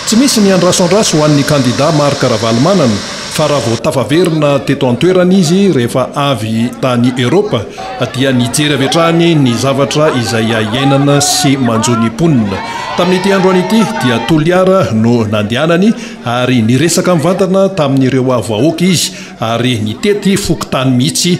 Tsy misy ny andrasoandraso ho an'ny kandidà Marc Ravalomanana fa raha vao tafaverina teto an-toerana izy rehefa avy tany Eropa dia nijery avy hatrany ny zavatra izay iainana sy manjo ny mponina. Tamin'ity androany ity dia Toliara no nandehanany ary niresaka mivantana tamin'ireo vahoaka izy ary nitety fokontany mihitsy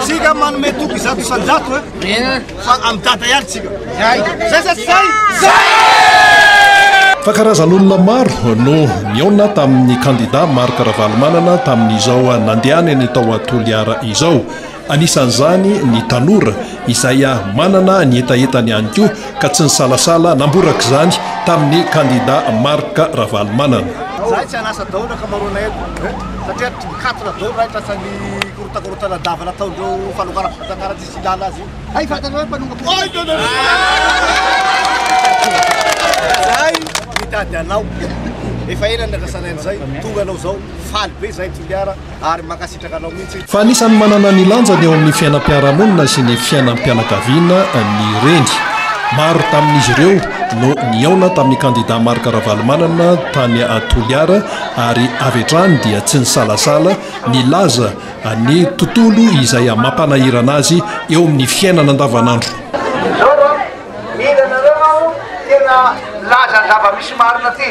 Tsika manome toko izato isan-jato e fa amin'ny dada ihany tsika zay zay zay zay fa karazan'olona maro no niaona tamin'ny kandida Marc Ravalomanana tamin'izao nandehany ny tao Toliara izao anisan'izany ny tanora, izay manana ny hetahetany ihany koa ka tsy nisalasala namboraka izany tamin'ny kandida Marc Ravalomanana. Izahay tsy an'asa daholo ny ankamaroanay eto eh! Satria mikatona daholo raha hitrasa ny korotakorontana dava nataon'ireo fanonganam-panjakana tsisy ilàna azy io. Hay fantanao hoe mpanongam-panjakana. Izahay mitady anao, efa ela niandrasanay an'izay, tonga anao izao, faly be izahay Toliara. ary mankasitraka anao mihitsy. Fa anisan'ny manana ny lanjany eo amin'ny fiainam-piarahamonina sy ny fiainam-pianakaviana ny reny. Maro tamin'izy ireo no nihaona tamin'ny kandidà Marc Ravalomanana tany Toliara ary avy hatrany dia tsy nisalasala nilaza ny tontolo izay amam-panahirana azy eo amin'ny fiainana andavanandro. Izao aho mila anareo aho tena milaza ny zava-misy marina ty.